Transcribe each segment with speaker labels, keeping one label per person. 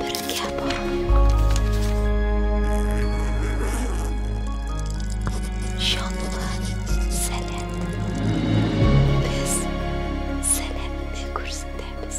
Speaker 1: Бергә барыйк. Җанлы, сәләтле. Без сәләтне күрсәтәбез.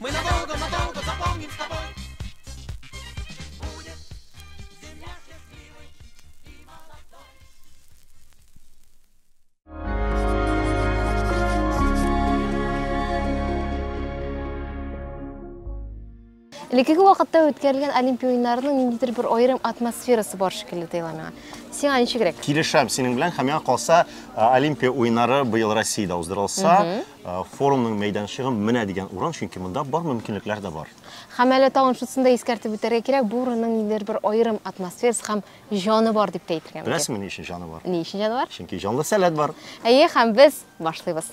Speaker 2: Мы надолго, надолго запомним с тобой. Будет земля
Speaker 3: счастливой и молодой. Элеккеге вакытта үткәрелгән Олимпия уеннарының ниндидер бер аерым атмосферасы бар шикелле тоела миңа. Сиңа ничегрәк? Килешәм синең белән һәм
Speaker 4: миңа калса Олимпия уеннары быел Россиядә уздырылса, Э, форумның мәйданчыгы менә дигән урын, чөнки монда бар мөмкинлекләр дә бар. Һәм әле тагын
Speaker 3: шусын да искәртеп үтәргә кирәк, бу урынның ниндидер бер аерым атмосферасы һәм җаны бар дип тә әйтергә мөмкин. Беләсеңме ни өчен җаны бар? Ни
Speaker 4: өчен җаны бар? Чөнки җанлы
Speaker 3: сәләт бар.
Speaker 4: Әйе, һәм без
Speaker 3: башлыйбыз.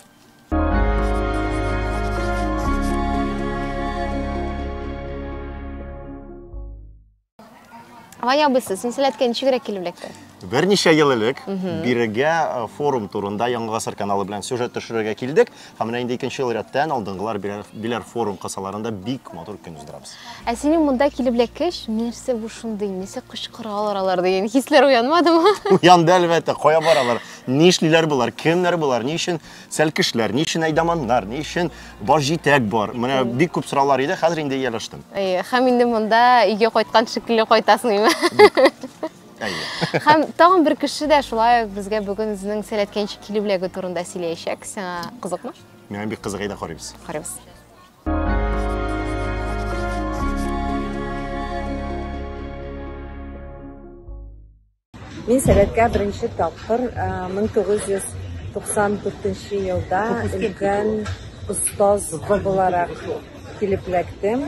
Speaker 3: Ваня абыйсы, сенсәләткә ничегрәк килеп эләкте? Берничә ел элек
Speaker 4: бирегә э, форум турында Яңа гасыр каналы белән сюжет төшерергә килдек. Һәм менә инде икенче ел рәттән алдынгылар биләр, биләр форум кысаларында бик матур көн уздырабыз. Ә синең монда
Speaker 3: килеп эләккәч, нәрсә бу шундый, нәрсә кычкыралар алар дигән хисләр уянмадымы? Уянды әлбәттә,
Speaker 4: кая баралар, нишлиләр болар, кемнәр болар, ни өчен Сәлкешләр, ни өчен әйдаманнар, ни өчен баш җитәк бар? Менә бик күп сораулар иде, хәзер инде ияләштем. Әйе, һәм инде монда
Speaker 3: өйгә кайткан шикелле кайтасың, име? Әйе. Һәм тагын бер кеше дә шулай безгә бүген үзенең сәләткәнчә килү бүләге турында сөйләячәк. Сиңа кызыкмы? Миңа бик кызык иде,
Speaker 4: карыйбыз. Карыйбыз.
Speaker 5: Мин сәләткә беренче тапкыр 1994 елда өлкән остаз буларак килеп эләктем.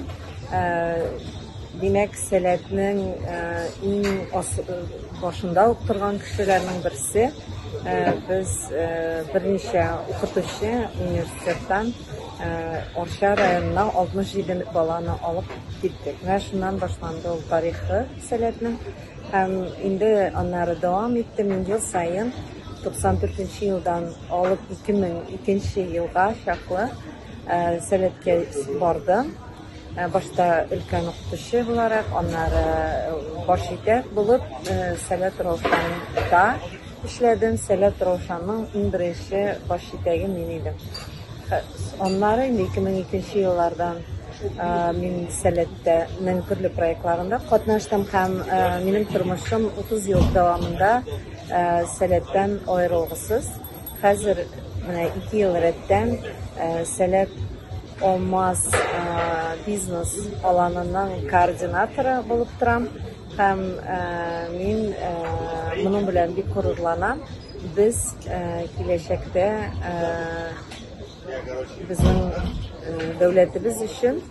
Speaker 5: Димәк, сәләтнең иң башында ук торган кешеләрнең берсе. Без берничә укытучы университеттан Арча районына 67 баланы алып киттек. Менә шуннан башланды ул тарихы сәләтнең. Һәм инде аннары дәвам итте. Мин ел саен 94 елдан алып 2002 елга чаклы сәләткә бардым. Башта өлкән укытучы буларак, аннары баш итәк булып Сәләт Раушанда эшләдем. Сәләт Раушаның иң беренче баш итәге мин идем. Аннары инде 2002 нче еллардан мин Сәләттәнең төрле проектларында катнаштым һәм минем тормышым 30 ел дәвамында Сәләттән аерылгысыз. Хәзер менә ике ел рәттән Сәләт Алмаз бизнес аланының координаторы булып торам. Һәм мин моның белән бик горурланам. Без киләчәктә безнең дәүләтебез өчен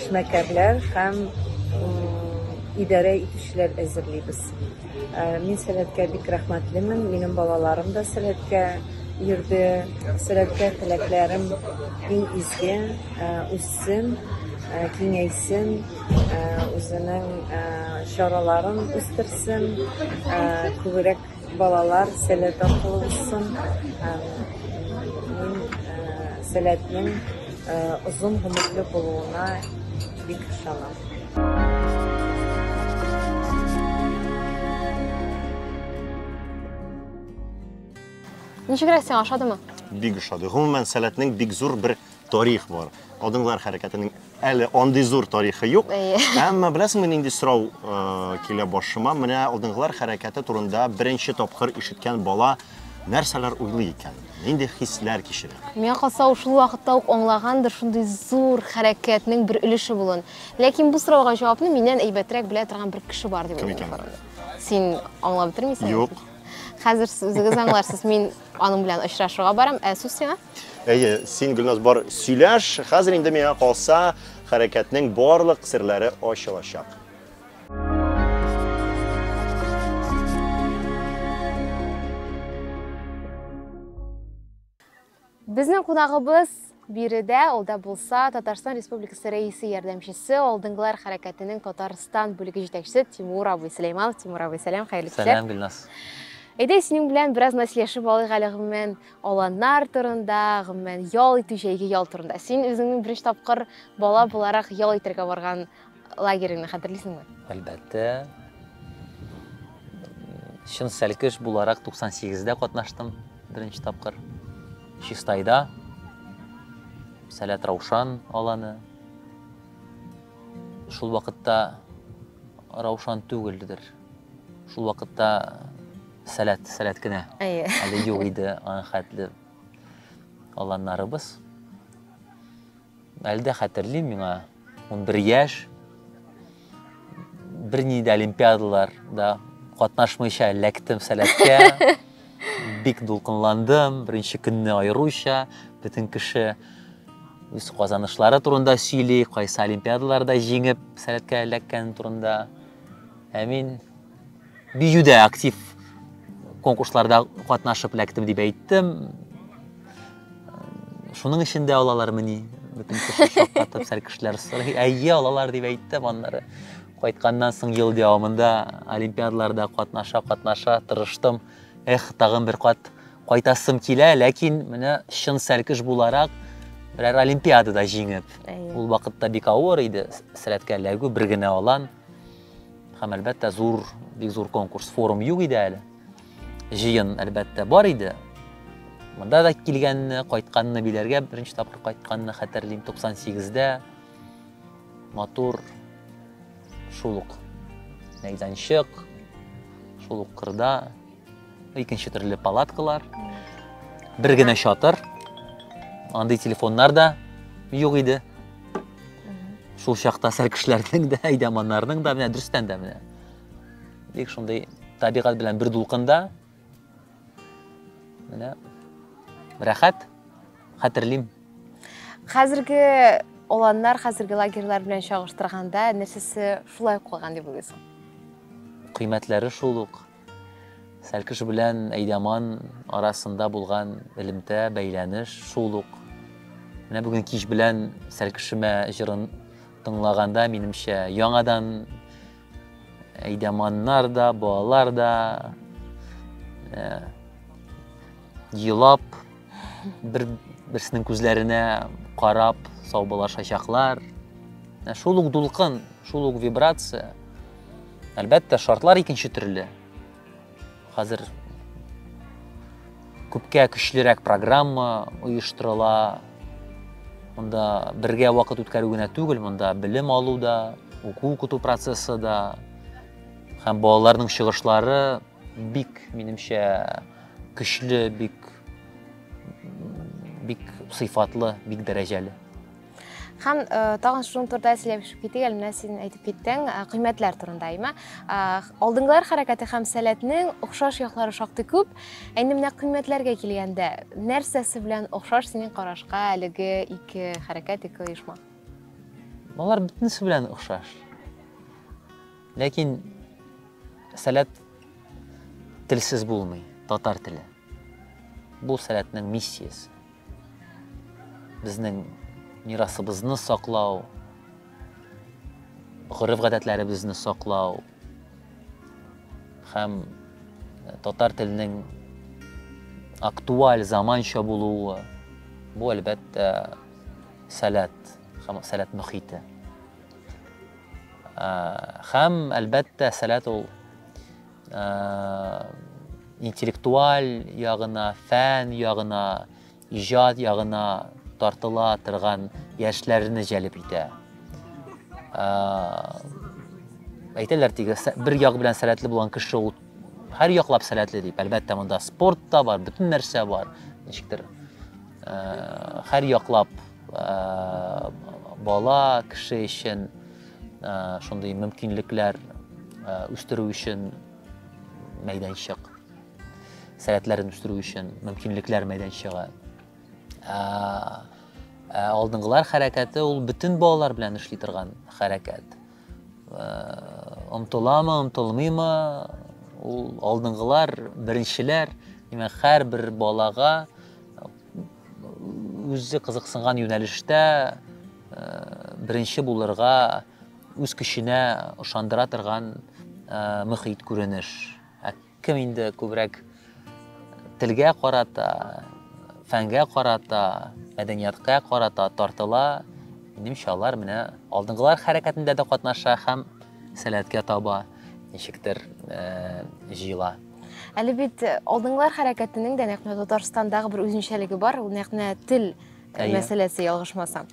Speaker 5: эшмәкәрләр һәм идарә итүчеләр әзерлибез. Мин Сәләткә бик рәхмәтлемен. Минем балаларым да Сәләткә йөрде. Сәләткә теләкләрем иң изге, үссен, киңәйсен, үзенең чараларын үстерсен, күбрәк балалар Сәләт аркылы узсын. Мин Сәләтнең озын гомерле булуына бик ышанам.
Speaker 3: Ничегрәк сиңа ошадымы?
Speaker 4: Бик ошады. Гомумән, сәләтнең бик зур бер тарих бар. Адымлар хәрәкәтенең әле андый зур тарихы юк. Әмма беләсеңме нинди сорау э, килә башыма? Менә адымлар хәрәкәте турында беренче тапкыр ишеткән бала нәрсәләр уйлый икән? Нинди хисләр кичерә? Миңа калса, ул шул
Speaker 3: вакытта ук аңлагандыр шундый зур хәрәкәтнең бер өлеше булуын. Ләкин бу сорауга җавапны миннән әйбәтрәк белә торган бер кеше бар дип Кем уйлыйм. икән? Син аңлап бетермисең. Юк.
Speaker 4: Хәзер сез
Speaker 3: үзегез аңларсыз. Мин аның белән очрашуга барам, ә сүз сиңа. Әйе, син
Speaker 4: Гөлназ бар сөйләш. Хәзер инде миңа калса, хәрәкәтнең барлык серләре ачылачак.
Speaker 3: Безнең кунагыбыз биредә, ул да булса Татарстан Республикасы рәисе ярдәмчесе, алдынгылар хәрәкәтенең Татарстан бүлеге җитәкчесе Тимур абый Сөләйманов. Тимур абый, сәлам, хәерле кичә. Сәлам, Гөлназ.
Speaker 6: Әйдә, синең
Speaker 3: белән бераз мәслихәшеп алыйк әле гомумән аланнар турында, гомумән ял итү, җәйге ял турында. Син үзеңнең беренче тапкыр бала буларак ял итәргә барган Лагерьны хәтерлисеңме? Әлбәттә.
Speaker 6: Чын сәлкеш буларак 98-дә катнаштым беренче тапкыр. Чистайда. Сәләт Раушан аланы. Шул вакытта Раушан түгелдер. Шул вакытта сәләт, сәләт кенә. Әйе. Әле юк иде аның хәтле аланнарыбыз. Әле дә хәтерлим, миңа 11 яшь. Бер ни дә олимпиадалар да катнашмыйча эләктем сәләткә. Бик дулкынландым, беренче көнне аеруча, бөтен кеше үз казанышлары турында сөйли, кайсы олимпиадаларда җиңеп сәләткә эләккән турында. Ә мин биюдә актив конкурсларда катнашып эләктем дип әйттем шуның өчен дә алалармыни бөтен кеше шаккатып сәл кешеләр сорый әйе алалар дип әйттем аннары кайтканнан соң ел дәвамында олимпиадаларда катнаша катнаша тырыштым эх тагын бер кат кайтасым килә ләкин менә чын сәлкеш буларак берәр олимпиадада җиңеп ул вакытта бик авыр иде сәләткә эләгү бер генә алан Һәм әлбәттә зур, бик зур конкурс, форум юк иде әле. Җыен әлбәттә бар иде. Монда да килгәнне, кайтканны биләргә беренче тапкыр кайтканны хәтерлим 98-дә. Матур шул ук мәйданчык, шул ук кырда Икенче төрле палаткалар, бер генә чатыр. Андый телефоннар да юк иде. Шул чакта сәркешләрнең дә, әйдәманнарның да, менә дөрестән дә менә. Бик шундый табигать белән бер дулкында. Менә рәхәт, хәтерлим.
Speaker 3: Хәзерге оланнар хәзерге лагерьлар белән чагыштырганда нәрсәсе шулай калган дип уйлыйсың?
Speaker 6: Кыйммәтләре шул ук, Сәлкеш белән Әйдаман арасында булган элемтә, бәйләнеш шул ук. Менә бүген кич белән Сәлкешемә җырын тыңлаганда, минемчә, яңадан Әйдаманнар да, балалар да елап, Бер берсенең күзләренә карап саубуллашачаклар. Ә шул ук дулкын, шул ук вибрация. Әлбәттә, шартлар икенче төрле. Хәзер күпкә көчлерәк программа оештырыла. Монда бергә вакыт үткәрү генә түгел, монда белем алу да, уку укыту процессы да һәм балаларның чыгышлары Бик, минемчә, көчле, бик бик сыйфатлы, бик дәрәҗәле. Һәм
Speaker 3: э, тагын шуның турында сөйләшеп китик, әле менә син әйтеп киттең, э, кыйммәтләр турында, әйме? Э, алдыңгылар хәрәкәте һәм сәләтнең охшаш яклары шактый күп. Әйне менә кыйммәтләргә килгәндә, нәрсәсе белән охшаш синең карашка әлеге ике хәрәкәт, ике оешма?
Speaker 6: Алар бөтенесе белән охшаш. Ләкин сәләт телсез булмый, татар теле. Бу сәләтнең миссиясе. Безнең мирасыбызны саклау, гореф-гадәтләребезне саклау һәм э, татар теленең актуаль заманча булуы бу әлбәттә сәләт һәм сәләт мөхите. Хәм, әлбәттә, сәләт ул интеллектуаль ягына, фән ягына, иҗат ягына тартыла торган яшьләрне җәлеп итә. Әйтәләр тиге, бер як белән сәләтле булган кеше ул һәр яклап сәләтле дип. Әлбәттә, монда спорт та бар, бөтен нәрсә бар. Ничектер, һәр яклап Бала, кеше өчен шундый мөмкинлекләр үстерү өчен мәйданчык, сәләтләрен үстерү өчен мөмкинлекләр мәйданчыгы. Алдынгылар хәрәкәте ул бөтен балалар белән эшли торган хәрәкәт. Омтыламы, омтылмыймы, ул алдынгылар, беренчеләр, димәк, һәрбер балага үзе кызыксынган юнәлештә беренче булырга үз көченә ышандыра торган мөхит күренеш кем инде күбрәк телгә карата фәнгә карата мәдәниятка карата тартыла минемчә алар менә алдынгылар хәрәкәтендә дә катнаша һәм сәләткә таба ничектер җыела Әле
Speaker 3: бит э, алдыңгылар хәрәкәтенең дә нәкъ менә Татарстандагы бер үзенчәлеге бар, ул нәкъ менә тел э, Әйе. мәсьәләсе ялгышмасам.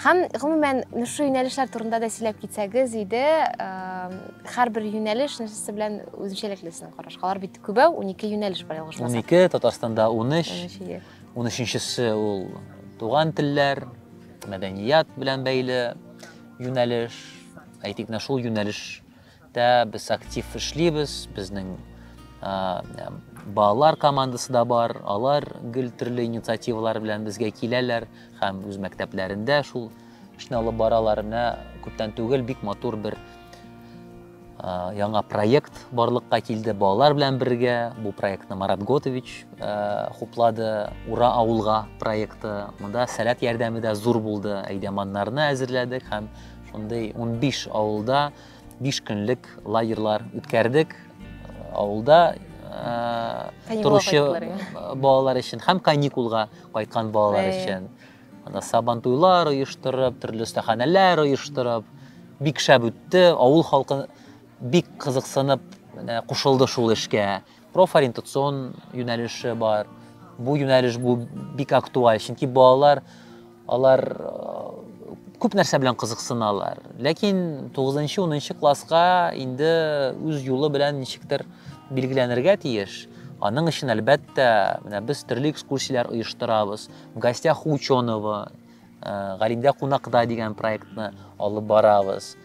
Speaker 3: Һәм гомумән менә шушы юнәлешләр турында да сөйләп китсәгез иде, э, һәрбер юнәлеш нәрсәсе белән үзенчәлекле сезнең караш. Алар бит күбәү, 12 юнәлеш бар ялгышмасам. 12, Татарстанда 13,
Speaker 6: Унөч, ие. 13-нчесе ул туган телләр, мәдәният белән бәйле юнәлеш. Әйтик, менә шул юнәлеш Дә без актив эшлибез, безнең балалар командасы да бар, алар гел төрле инициативалар белән безгә киләләр һәм үз мәктәпләрендә шул эшне алып баралар. Менә күптән түгел бик матур бер яңа проект барлыкка килде балалар белән бергә. Бу проектны Марат Готович хуплады. Ура авылга проекты. Монда сәләт ярдәме дә зур булды. Әйдәманнарны әзерләдек һәм шундый 15 авылда Биш көнлек лагерьлар үткәрдек авылда торучы балалар өчен һәм каникулга кайткан балалар өчен сабан туйлар оештырып төрле остаханәләр оештырып бик шәп үтте авыл халкы бик кызыксынып кушылды шул эшкә Профориентацион юнәлеше бар. Бу юнәлеш бу бик актуаль, чөнки балалар алар күп нәрсә белән кызыксыналар. Ләкин 9-10 класска инде үз юлы белән ничектер билгеләнергә тиеш. Аның өчен әлбәттә, менә без төрле экскурсияләр оештырабыз. В гостях ученого ә, Галимдә кунакта дигән проектны алып барабыз.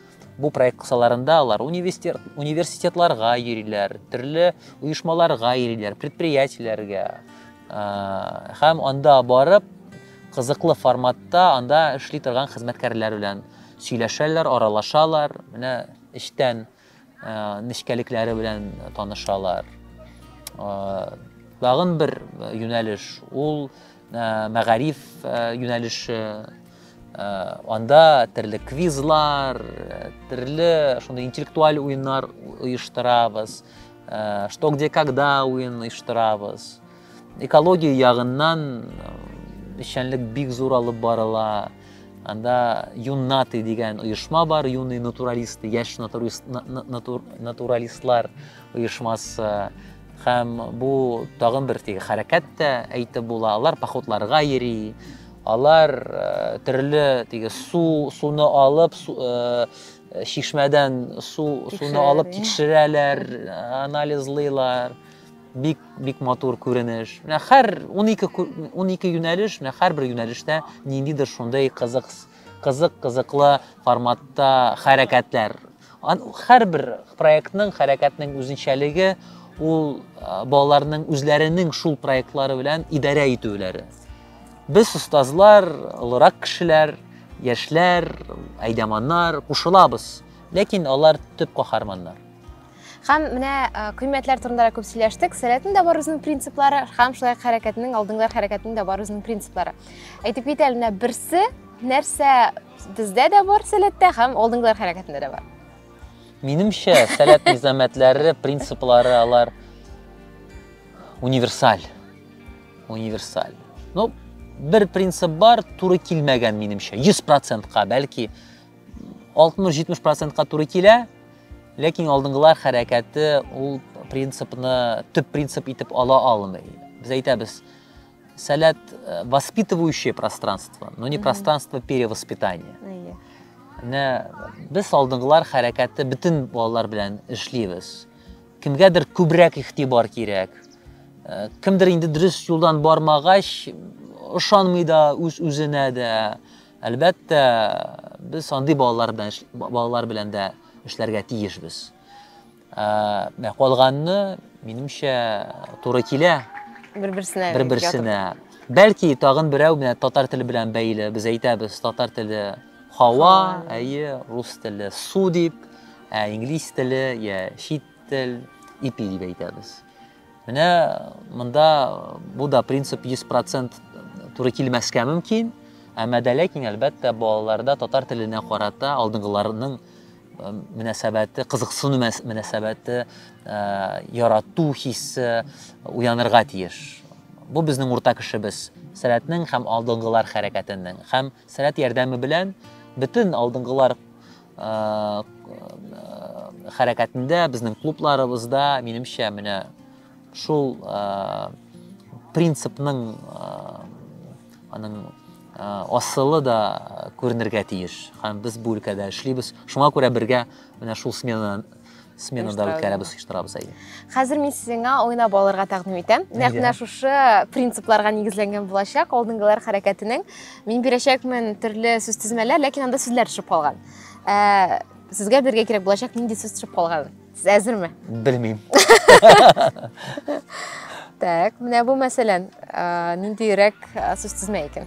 Speaker 6: Бу проект кысаларында алар университет, университетларга йөриләр, төрле оешмаларга йөриләр, предприятиеләргә. Ә, һәм анда барып, кызыклы форматта анда эшли торган хезмәткәрләр белән сөйләшәләр, аралашалар. Менә эчтән нечкәлекләре белән танышалар. Тагын бер юнәлеш ул мәгариф юнәлеше. Анда төрле квизлар, төрле шундый интеллектуаль уеннар оештырабыз. Что где когда уен оештырабыз. Экология ягыннан эшчәнлек бик зур алып барыла. Анда Юннаты дигән оешма бар, юный натуралисты, яшь натуралистлар оешмасы һәм бу тагын бер теге хәрәкәт тә әйтеп була алар походларга йөри алар э, төрле теге су суны алып су, э, шишмәдән су суны алып тикшерәләр анализлыйлар бик бик матур күренеш. Менә һәр 12 12 юнәлеш, менә һәрбер юнәлештә ниндидер шундый кызык кызык кызыклы форматта хәрәкәтләр. Һәрбер проектның, хәрәкәтнең үзенчәлеге ул балаларның үзләренең шул проектлары белән идарә итүләре. Без остазлар, олырак кешеләр, яшьләр, әйдәманнар кушылабыз, ләкин алар төп каһарманнар. Хәм
Speaker 3: менә кыйммәтләр турында да күп сөйләштек. Сәләтнең дә бар үзенең принциплары, хәм шулай хәрәкәтнең, алдыңгылар хәрәкәтнең дә бар үзенең принциплары. Әйтеп кит әле, менә берсе нәрсә бездә дә бар сәләттә, хәм алдыңгылар хәрәкәтендә дә бар. Минемчә,
Speaker 6: сәләт низамәтләре, принциплары алар универсаль. Универсаль. Ну, бер принцип бар, туры килмәгән минемчә. 100%-ка, бәлки, 60-70 процентка туры килә, ләкин алдынгылар хәрәкәте ул принципны төп принцип итеп ала алмый. Без әйтәбез, сәләт э, воспитывающее пространство, но не пространство перевоспитания. Менә без алдынгылар хәрәкәте бөтен балалар белән эшлибез. Кемгәдер күбрәк игътибар кирәк. Э, кемдер инде дөрес юлдан бармагач, ышанмый да үз-үзенә дә. Әлбәттә, без андый балалар белән балалар белән дә эшләргә тиешбез. Ә калганны, минемчә, туры килә. Бер-берсенә. Бер-берсенә. Бәлки тагын берәү менә татар теле белән бәйле без әйтәбез, татар теле хава, әйе, рус теле су дип, ә инглиз теле я чит тел ипи дип әйтәбез. Менә монда бу да принцип 100% туры килмәскә мөмкин, әмма дә ләкин әлбәттә балаларда татар теленә карата алдынгыларның мөнәсәбәте, кызыксыну мөнәсәбәте, ярату хисе уянырга тиеш. Бу безнең урта кешебез, сәләтнең һәм алдынгылар хәрәкәтенең һәм сәләт ярдәме белән бөтен алдынгылар хәрәкәтендә, безнең клубларыбызда, минемчә, менә шул принципның аның асылы да күренергә тиеш. Һәм без бу өлкәдә эшлибез. Шуңа күрә бергә менә шул смена сменада үткәрәбез оештырабыз әйе хәзер мин
Speaker 3: сезгә уйнап алырга тәкъдим итәм нәкъ менә шушы принципларга нигезләнгән булачак алдынгылар хәрәкәтенең мин бирәчәкмен төрле сүз тезмәләр ләкин анда сүзләр төшеп калган ә, сезгә бергә кирәк булачак нинди сүз төшеп калган сез әзерме белмим Так, менә бу мәсәлән, ниндирәк сүз тезмә икән?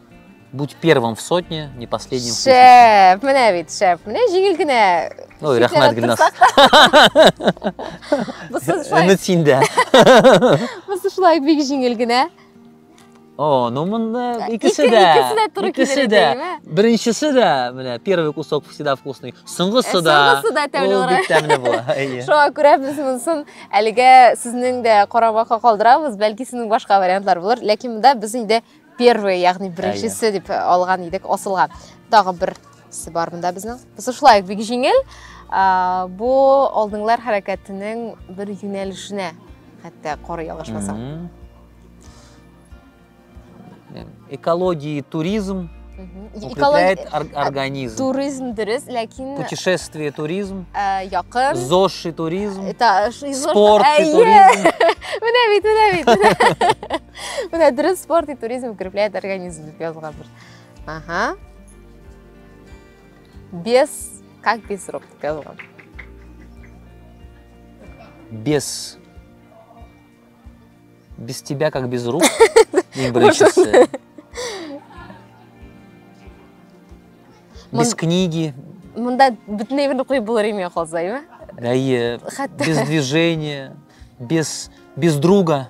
Speaker 6: Будь первым в сотне, не последним в тысяче. Шеф, менә бит,
Speaker 3: шеф, менә җиңел генә. Ой, Шикләнеп рәхмәт,
Speaker 6: Гөлназ.
Speaker 3: Бусы шулай, Өмет синдә. бусы шулай бик җиңел генә. О,
Speaker 6: ну монда икесе Ике- дә. икесе дә туры икесе килер дә. идеме? Беренчесе дә, менә, первый кусок всегда вкусный. Соңгысы Э, да. соңгысы да тәмле ул була. бик тәмле була. Әйе. Шуңа күрә
Speaker 3: без монысын әлегә сезнең дә карамакка калдырабыз, бәлки сезнең башка вариантлар булыр, ләкин монда без инде Первый, ягъни беренчесе дип алган идек, асылган. Тагы бер нәрсә бар монда безнең. Без шулай бик җиңел. Бу алдыңлар хәрәкәтенең бер юнәлешенә хәтта коры ялгышмаса.
Speaker 6: Экология, туризм укрепляет организм. Туризм дөрес,
Speaker 3: ләкин путешествие туризм.
Speaker 6: Якын.
Speaker 3: ЗОЖ и туризм.
Speaker 6: Спорт и туризм. Менә бит, менә
Speaker 3: бит. Менә дөрес спорт и туризм укрепляет организм дип язылган бер. Ага. Без как без рук дип язылган. Без
Speaker 6: без тебя как без рук. Иң беренчесе. Без книги. Монда
Speaker 3: бөтенләй берне куеп булыр име калса, әйме? Әйе.
Speaker 6: Без движения, без без друга.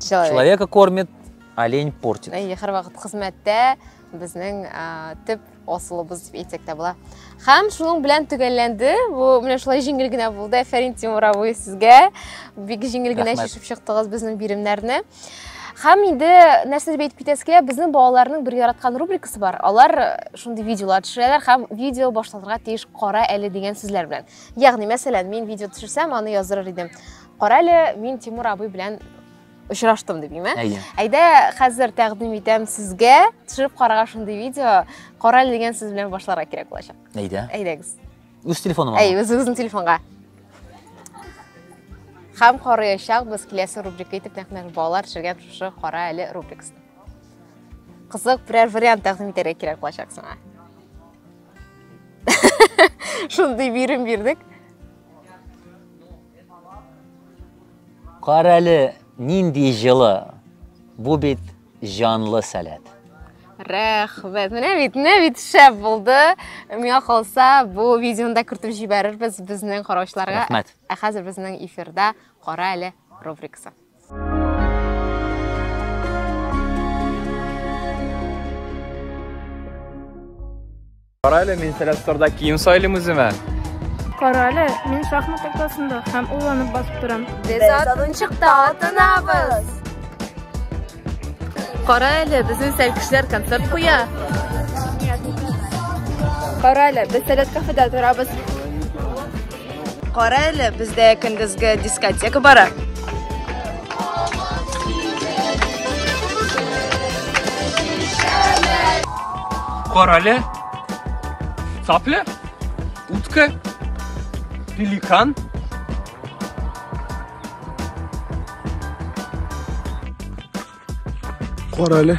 Speaker 6: Человек. Человека кормит, олень портит. Әйе, һәрвакыт хезмәттә
Speaker 3: безнең төп асылыбыз дип әйтсәк тә була. Һәм шуның белән төгәлләнде. Бу менә шулай җиңел генә булды. Әфәрин Тимур абый сезгә. Бик җиңел генә чишеп чыктыгыз безнең биремнәрне. Һәм инде нәрсә дип әйтеп китәсе килә, безнең балаларның бер яраткан рубрикасы бар. Алар э, шундый видеолар төшерәләр һәм видео башлатырга тиеш кара әле дигән сүзләр белән. Ягъни, мәсәлән, мин видео төшерсәм, аны яздырыр идем. Карале, мин Тимур абый белән очраштым дип име? Әйе. Әйдә, хәзер тәкъдим итәм сезгә төшереп карага шундый видео. Кара дигән сүз белән башларга кирәк булачак. Әйдә. Әйдәгез. Үз телефоныма.
Speaker 6: Әй, үзегезнең телефонга.
Speaker 3: Хәм карыячак без киләсе рубрика итеп нәкъ балалар төшергән шушы кара әле рубрикасын. Кызык берәр вариант тәкъдим итәргә кирәк булачак сиңа. Шундый бирем бирдек.
Speaker 6: Карале, нинди җылы. Бу бит җанлы сәләт. Рәхмәт.
Speaker 3: Менә бит, менә бит шәп булды. Миңа калса, бу видеоны да кертеп җибәрербез безнең караучыларга. Рәхмәт. Ә хәзер
Speaker 6: безнең
Speaker 3: эфирда Кара әле рубрикасы.
Speaker 7: Карале, мин сәләсторда кием сайлым үземә. Карале,
Speaker 8: мин шахмат тактасында һәм уйланып басып торам. Без атынчыкта
Speaker 3: атынабыз. Кара әле, безнең сәлкешләр концерт куя.
Speaker 8: Кара әле, без сәләт кафеда торабыз.
Speaker 5: Кара әле, бездә көндезге дискотека бара.
Speaker 7: Кара әле. Цапля, утка, пеликан. Кара әле.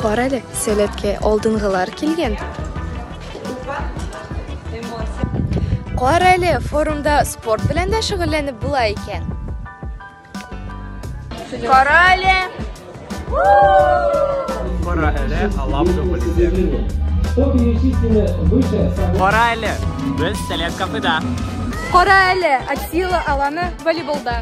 Speaker 8: Кара әле, сәләткә алдынгылар килгән. Кара әле, форумда спорт белән дә шөгыльләнеп була икән. Кара әле.
Speaker 7: Кара әле, алам Кара әле, без сәләт кафеда. Кара
Speaker 8: әле, Атила аланы волейболда.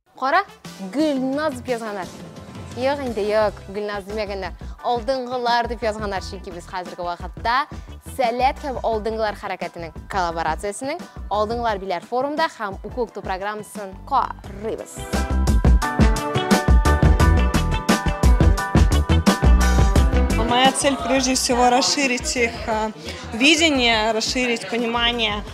Speaker 3: Кара, Гөлназ дип язганнар. Юк инде, юк, Гөлназ димәгәннәр. Алдынгылар дип язганнар, чөнки без хәзерге вакытта Сәләт һәм алдынгылар хәрәкәтенең коллаборациясенең Алдынгылар биләр форумда һәм уку укыту программасын карыйбыз.
Speaker 9: Моя цель прежде всего расширить их э, видение, расширить понимание –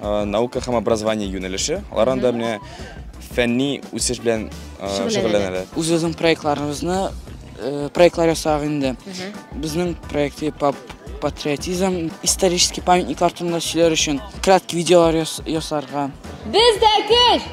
Speaker 7: Наука һәм образование юнәлеше. Алар анда менә фәнни үсеш белән шөгыльләнәләр. Үзебезнең
Speaker 10: проектларыбызны проектлар ясадык инде. Безнең проекты пап патриотизм, исторический памятниклар турында сөйләр өчен краткий видеолар ясарга. Бездә
Speaker 11: көч!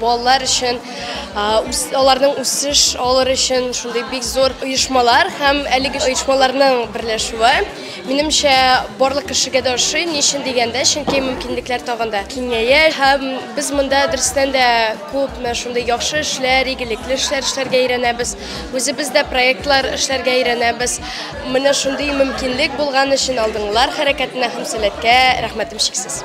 Speaker 12: Балалар өчен аларның
Speaker 8: үсеш алыр өчен шундый бик зур оешмалар һәм әлеге оешмаларның берләшүе минемчә барлык кешегә дә ошый ни өчен дигәндә чөнки мөмкинлекләр тагын да киңәя һәм без монда дөрестән дә күпме шундый яхшы эшләр игелекле эшләр эшләргә өйрәнәбез үзебез дә проектлар эшләргә өйрәнәбез менә шундый мөмкинлек булган өчен алдыңгылар хәрәкәтенә һәм сәләткә рәхмәтем чиксез.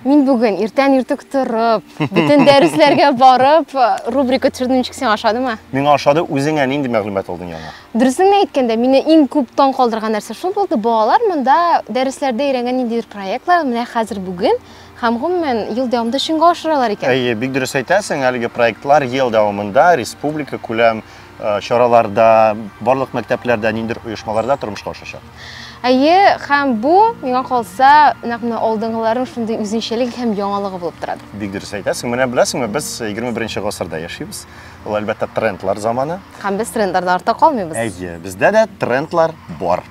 Speaker 3: Мин бүген иртән иртүк торып, бөтен дәресләргә барып, рубрика төшердем ничек сиңа ошадымы? Миңа ошады, үзеңә
Speaker 4: нинди мәгълүмат алдың яңа? Дөресен әйткәндә, мине
Speaker 3: иң күп таң калдырган нәрсә шул булды. Балалар монда дәресләрдә өйрәнгән ниндидер проектлар менә хәзер бүген Һәм, гомумән, ел дәвамында чынга ашыралар икән. Әйе, бик дөрес әйтәсең,
Speaker 4: әлеге проектлар ел дәвамында республика күләм чараларда, барлык мәктәпләрдә, ниндидер оешмаларда тормышка ашачак. Әйе,
Speaker 3: һәм бу, миңа калса, нәкъ менә алдынгыларның шундый үзенчәлеге һәм яңалыгы булып тора. Бик дөрес әйтәсең. Менә
Speaker 4: беләсеңме, без 21 гасырда яшибез. Ул, әлбәттә, трендлар заманы. Һәм без трендлардан
Speaker 3: артта калмыйбыз. Әйе, бездә дә
Speaker 4: трендлар бар.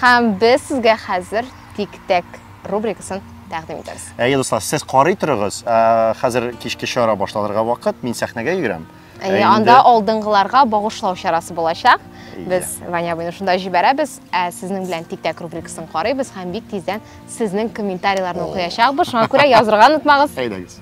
Speaker 4: Һәм без
Speaker 3: сезгә хәзер Тик-тәк рубрикасын тәкъдим итәбез. Әйе, дуслар, сез карый
Speaker 4: торыгыз. Ә, Хәзер кичке чара башланырга вакыт, мин сәхнәгә йөгерәм. Ә Әйе, инде- анда
Speaker 3: алдынгыларга багышлау чарасы булачак. Әйе. Без Ваня абыйны шунда җибәрәбез, ә сезнең белән тик-тәк рубрикасын карыйбыз һәм бик тиздән сезнең комментарийларны О. укыячакбыз. Шуңа күрә язырга онытмагыз. Әйдәгез.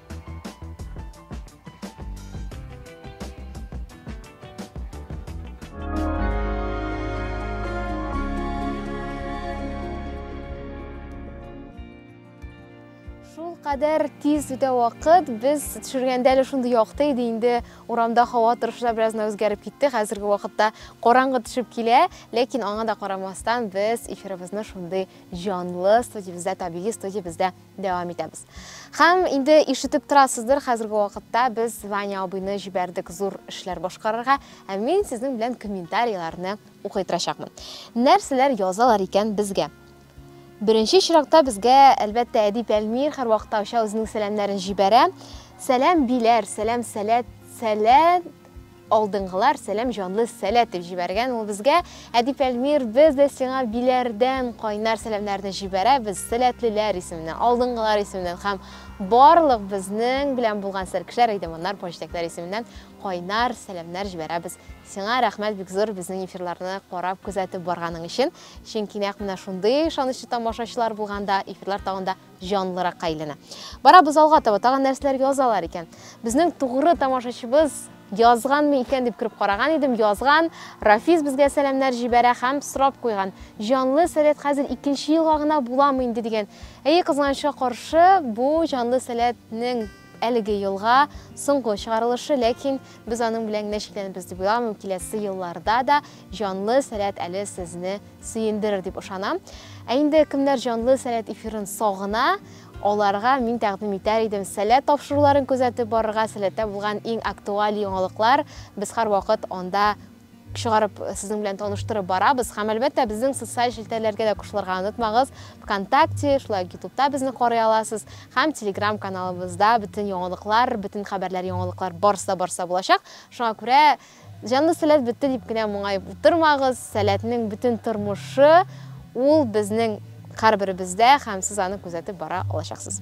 Speaker 3: кадәр тиз үтә вакыт. Без төшергәндә әле шундый якты иде, инде урамда һава торышы да бераздан үзгәреп китте. Хәзерге вакытта караңгы төшеп килә, ләкин аңа да карамастан без эфирыбызны шундый җанлы студиябездә, табигый студиябездә Дәвам итәбез. Хәм инде ишетеп торасыздыр, хәзерге вакытта без Ваня абыйны җибәрдек зур эшләр башкарырга, ә мин сезнең белән комментарийларны укый торачакмын. Нәрсәләр язалар икән безгә? Беренче чиракта безгә, әлбәттә, Әдип Әлмир һәрвакыттагыча үзенең сәламнәрен җибәрә. Сәлам биләр, сәлам сәләт, сәләт Алдынгылар сәлам җанлы сәләт дип җибәргән ул безгә. Әдип Әлмир, без дә сиңа биләрдән кайнар сәламнәрне җибәрәбез. Сәләтлеләр исеменнән, алдынгылар исеменнән һәм барлык безнең белән булган сәркешләр, әйдәманнар, поҗитәкләр исеменнән кайнар сәламнәр җибәрәбез. Сиңа рәхмәт бик зур безнең эфирларны карап, күзәтеп барганың өчен. Чөнки нәкъ менә шундый ышанычлы тамашачылар булганда, эфирлар тагын да җанлыракка әйләнә. Барабыз алга таба, тагын нәрсәләр язалар икән. Безнең тугры тамашачыбыз язганмы икән дип кереп караган идем, язган. Рафис безгә сәламнәр җибәрә һәм сорап куйган. Җанлы сәләт хәзер икенче елга гына буламы инде дигән. Әйе, кызганычка каршы, бу җанлы сәләтнең Әлеге елга, соңгы чыгарылышы, ләкин без аның белән генә чикләнербез дип уйламыйм, киләсе елларда да җанлы сәләт әле сезне сөендерер дип ышанам. Ә инде кемнәр җанлы сәләт эфирын сагына, аларга мин тәкъдим итәр идем сәләт тапшыруларын күзәтеп барырга, сәләттә булган иң актуаль яңалыклар без һәрвакыт анда чыгарып, сезнең белән таныштырып барабыз. Һәм әлбәттә, безнең социаль челтәрләргә дә кушылырга онытмагыз. ВКонтакте, шулай ук Ютубта безне карый аласыз һәм Telegram каналыбызда бөтен яңалыклар, бөтен хәбәрләр, яңалыклар барсы да барса булачак. Шуңа күрә җанлы сәләт бетте дип кенә моңаеп утырмагыз. Сәләтнең бөтен тормышы ул безнең һәрберебездә һәм сез аны күзәтеп бара алачаксыз.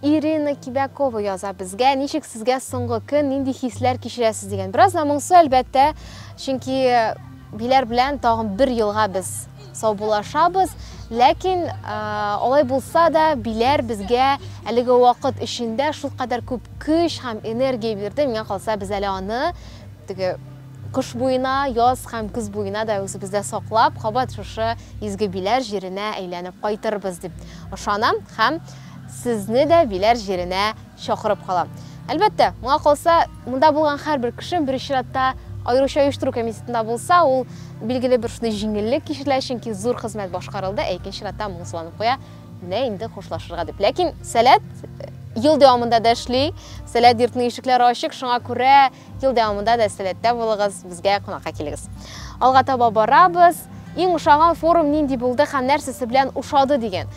Speaker 3: Ирина Кибякова яза безгә, ничек сезгә соңгы көн, нинди хисләр кичерәсез дигән. Бераз да моңсу, әлбәттә, чөнки биләр белән тагын бер елга без саубуллашабыз. Ләкин алай булса да, биләр безгә әлеге вакыт эчендә шул кадәр күп көч һәм энергия бирде. Миңа калса, без әле аны теге кыш буена, яз һәм көз буена да үзебездә саклап, кабат шушы изге биләр җиренә әйләнеп кайтырбыз дип ышанам һәм Сезне дә Биләр җиренә чакырып калам. Әлбәттә, моңа калса, монда булган һәрбер кеше, беренче чиратта, аеруча оештыру комитетында булса, ул, билгеле, бер шундый җиңеллек кичерә, чөнки зур хезмәт башкарылды, ә икенче чиратта, моңсуланып куя, менә инде хушлашырга дип. Ләкин Сәләт ел дәвамында да эшли, Сәләт йортының ишекләре ачык, шуңа күрә, Ел дәвамында да сәләттә булыгыз, безгә кунакка килегез. Алга таба барабыз. Иң ошаган форум нинди булды һәм нәрсәсе белән ошады дигән.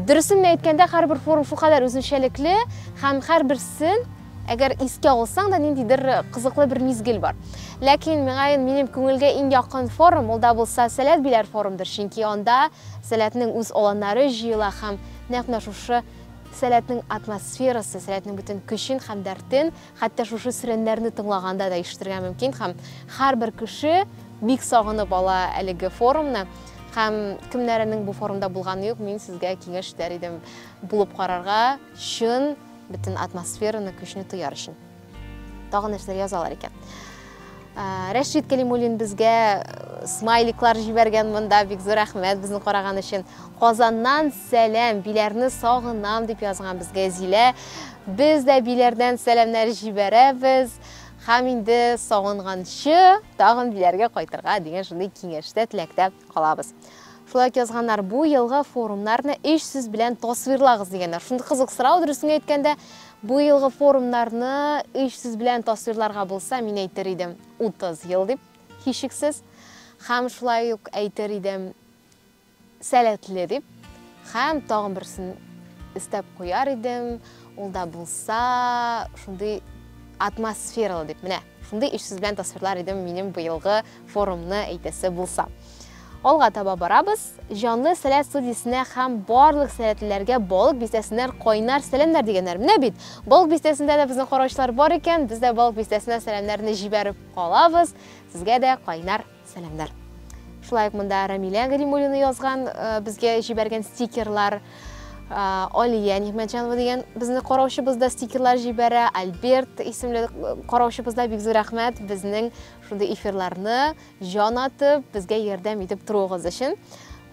Speaker 3: Дөресен генә әйткәндә, һәрбер форум шулкадәр үзенчәлекле һәм һәрберсен әгәр искә алсаң да ниндидер кызыклы бер мизгел бар. Ләкин миңа минем күңелгә иң якын форум ул да булса Сәләт биләр форумдыр, чөнки анда Сәләтнең үз аланнары җыела һәм нәкъ менә шушы Сәләтнең атмосферасы, Сәләтнең бөтен көчен һәм дәртен Хәтта шушы сиреннәрне тыңлаганда да ишетергә мөмкин һәм һәрбер кеше бик сагынып ала әлеге форумны һәм кемнәренең бу форумда булганы юк, мин сезгә киңәш итәр идем булып карарга, чын бөтен атмосфераны, көчне тояр өчен. Тагын нәрсәләр язалар икән. Ә, Рәшид Кәлимуллин безгә э, смайликлар җибәргән монда, бик зур рәхмәт безне караган өчен. Казаннан Сәлам, Биләрне сагынам, дип язган безгә Зилә. Без дә Биләрдән сәламнәр җибәрәбез. Һәм инде сагынганчы тагын Биләргә кайтырга дигән шундый киңәштә, теләктә калабыз. Шулай ук язганнар, бу елгы форумнарны өч сүз белән тасвирлагыз дигәннәр. Шундый кызык сорау, дөресен әйткәндә, бу елгы форумнарны өч сүз белән тасвирларга булса, мин әйтер идем, 30 ел дип, һичшиксез. Һәм шулай ук әйтер идем, Сәләтле дип һәм тагын берсен өстәп куяр идем, ул да булса, шундый атмосфералы дип. Менә шундый өч сүз белән тасвирлар идем минем быелгы форумны әйтәсе булса. Алга таба барабыз. Җанлы сәләт студиясенә һәм барлык сәләтлеләргә балык бистәсеннән кайнар сәламнәр дигәннәр. Менә бит, балык бистәсендә дә безнең караучылар бар икән, без дә балык бистәсенә сәламнәрне җибәреп калабыз. Сезгә дә кайнар Сәламнәр. Шулай ук монда Рамилә Галимуллина язган, э, безгә җибәргән стикерлар, э, Алия Нигмәтҗанова дигән безне караучыбыз да стикерлар җибәрә, Альберт исемле э, караучыбыз да бик зур рәхмәт безнең шундый эфирларны җан атып, безгә ярдәм итеп торуыгыз өчен.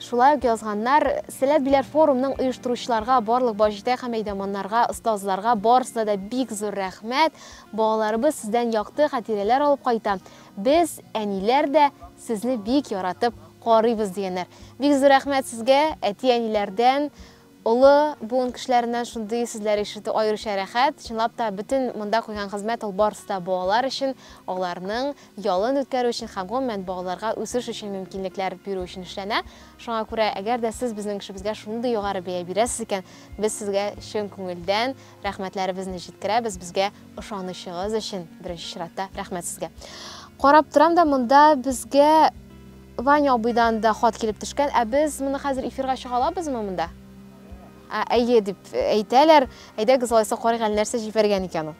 Speaker 3: Шулай ук язганнар, Сәләт Биләр форумның оештыручыларга, барлык баҗитә һәм әйдәманнарга, остазларга барысына да бик зур рәхмәт. Балаларыбыз сездән якты хатирәләр алып кайта. Без, әниләр дә сезне бик яратып карыйбыз, дигәннәр. Бик зур рәхмәт сезгә, әти-әниләрдән, олы буын кешеләреннән шундый сүзләр ишетү аеруча рәхәт. Чынлап та, бөтен монда куйган хезмәт ул барысы да балалар өчен, аларның ялын үткәрү өчен һәм, гомумән, балаларга үсеш өчен мөмкинлекләр бирү өчен эшләнә. Шуңа күрә, әгәр дә сез безнең эшебезгә шундый югары бәя бирәсез икән, без сезгә чын күңелдән Рәхмәтләребезне җиткерәбез безгә ышанучыгыз өчен, беренче чиратта рәхмәт сезгә. Карап торам да монда безгә Ваня абыйдан да хат килеп төшкән, ә без моны хәзер эфирга чыга алабызмы монда? Ә, әйе дип әйтәләр. Әйдәгез алайса карыйк әле нәрсә җибәргән икән ул.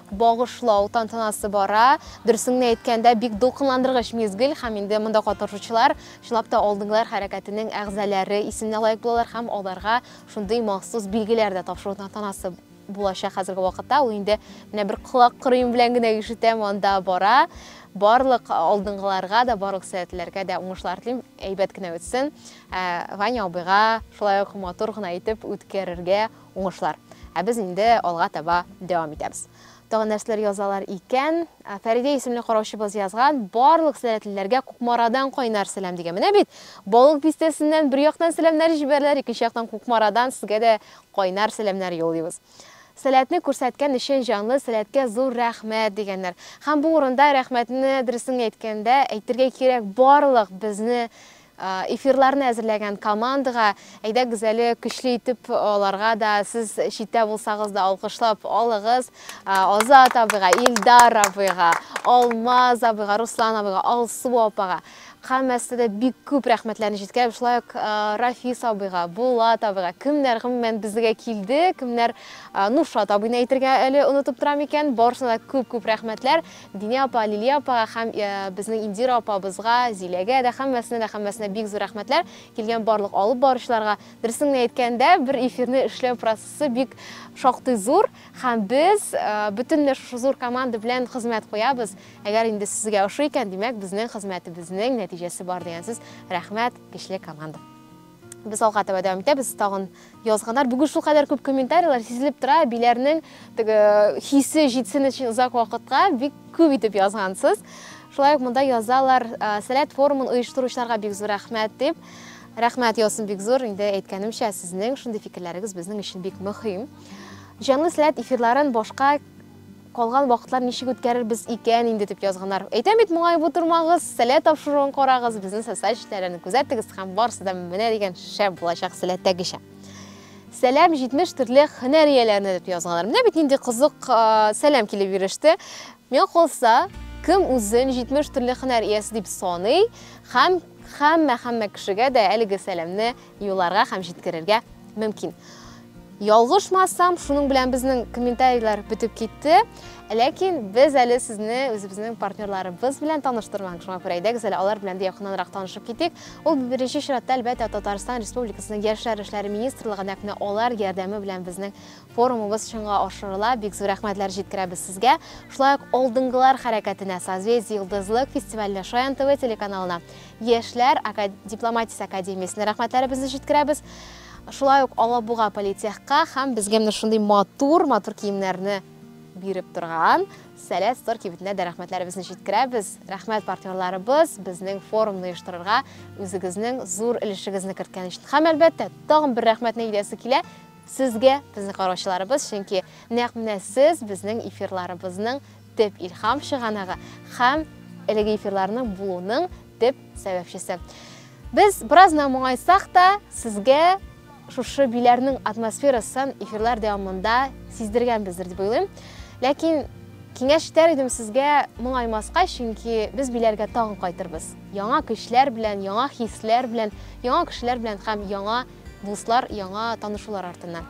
Speaker 3: багышлау тантанасы бара. Дөресеңне әйткәндә, бик дулкынландыргыч мизгел һәм инде монда катнашучылар чынлап та алдынгылар хәрәкәтенең әгъзалары исеменә лаек булалар һәм аларга шундый махсус билгеләр дә тапшыру тантанасы булачак хәзерге вакытта. Ул инде менә бер колак кырыем белән генә ишетәм, анда бара. Барлык алдынгыларга да, барлык сәләтлеләргә дә уңышлар телим, әйбәт кенә үтсен. Ә, Ваня абыйга шулай ук матур гына итеп үткәрергә Уңышлар! Ә без инде алга таба дәвам итәбез. Тагын нәрсәләр язалар икән? Ә, Фәридә исемле караучыбыз язган, Барлык сәләтлеләргә Кукмарадан кайнар сәлам дигән. Менә бит, Балык Бистәсеннән бер яктан сәламнәр җибәрәләр, икенче яктан Кукмарадан сезгә дә кайнар сәламнәр юллыйбыз. Сәләтне күрсәткән өчен җанлы сәләткә зур рәхмәт, дигәннәр. Һәм бу урында рәхмәтне, дөресен генә әйткәндә, әйтергә кирәк, барлык безне Эфирларны әзерләгән командага, әйдәгез әле көчле итеп аларга да, сез читтә булсагыз да алкышлап алыгыз. Азат абыйга, Илдар абыйга, Алмаз абыйга, Руслан абыйга, Алсу апага, һәммәсенә дә бик күп рәхмәтләрне җиткерәм. Шулай ук Рафис абыйга, Булат абыйга, кемнәр гомумән безгә килде, кемнәр Нуршат абыйны әйтергә әле онытып торам икән, барысына да күп-күп рәхмәтләр. Динә апа, Лилия апага һәм безнең Индира апабызга, Зиләгә дә, һәммәсенә дә, һәммәсенә бик зур рәхмәтләр, килгән барлык алып баручыларга. Дөресен генә әйткәндә, бер эфирны эшләү процессы бик шактый зур, һәм без бөтенләй шушы зур команда белән хезмәт куябыз. Әгәр инде сезгә ошый икән, димәк, безнең хезмәтебезнең нәтиҗәсе бар дигән сүз. Рәхмәт, көчле команда! Без алга таба дәвам итәбез, тагын язганнар. Бүген шул кадәр күп комментарийлар сизелеп тора, әбиләрнең теге хисе җитсен өчен озак вакытка бик күп итеп язгансыз. Шулай ук монда язалар, сәләт форумын оештыручыларга бик зур рәхмәт дип. Рәхмәт яусын бик зур, инде әйткәнемчә, сезнең шундый фикерләрегез безнең өчен бик мөһим. Җанлы сәләт эфирларын башка Калган вакытлар ничек үткәрербез икән инде дип язганнар. Әйтәм бит, моңаеп утырмагыз, сәлә тапшыруын карагыз, безнең социаль челтәрләрне күзәтегез һәм барысы да менә дигән шәп булачак сәләттәгечә. Сәлам 70 төрле һөнәр ияләренә дип язганнар. Менә бит нинди кызык сәлам килеп иреште. Миңа калса, кем үзен 70 төрле һөнәр иясе дип саный һәм һәммә-һәммә кешегә дә әлеге сәламне юлларга һәм җиткерергә мөмкин. Ялгышмасам, шуның белән безнең комментарийлар бетеп китте. Ләкин без әле сезне үзебезнең партнерларыбыз белән таныштырмак. Шуңа күрә әйдәгез әле алар белән дә якыннанрак танышып китик. Ул беренче чиратта әлбәттә Татарстан Республикасының Яшьләр эшләре министрлыгы нәкъ менә алар ярдәме белән безнең форумыбыз чынга ашырыла. Бик зур рәхмәтләр җиткерәбез сезгә. Шулай ук алдынгылар хәрәкәтенә Созвездие Йолдызлык фестиваленә Шаян ТВ телеканалына Яшьләр дипломатиясе академиясенә рәхмәтләребезне җиткерәбез. Шулай ук Алабуга политехка һәм безгә менә шундый матур, матур киемнәрне биреп торган Сәләт стор кибетенә дә рәхмәтләребезне җиткерәбез. Рәхмәт партнерларыбыз безнең форумны оештырырга үзегезнең зур өлешегезне керткән өчен. Һәм әлбәттә, тагын бер рәхмәтне әйтәсе килә сезгә, безнең караучыларыбыз, чөнки нәкъ менә сез безнең эфирларыбызның төп илһам чыганагы һәм әлеге эфирларның булуының төп сәбәпчесе. Без беразна моңайсак та, сезгә шушы биләрнең атмосферасын эфирлар дәвамында сиздергәнбездер дип уйлыйм. Ләкин киңәш итәр идем сезгә моңаймаска, чөнки без биләргә тагын кайтырбыз. Яңа көчләр белән, яңа хисләр белән, яңа кешеләр белән һәм яңа дуслар, яңа танышулар артыннан.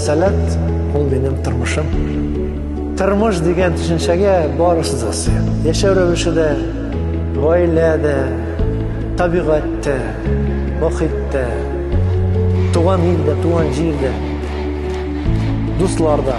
Speaker 13: Сәләт
Speaker 14: ул минем тормышым. Тормыш дигән төшенчәгә барысы да сыя. Яшәү рәвеше дә, гаилә дә, табигать тә, мохит тә, туган ил дә, туган җир дә, дуслар да.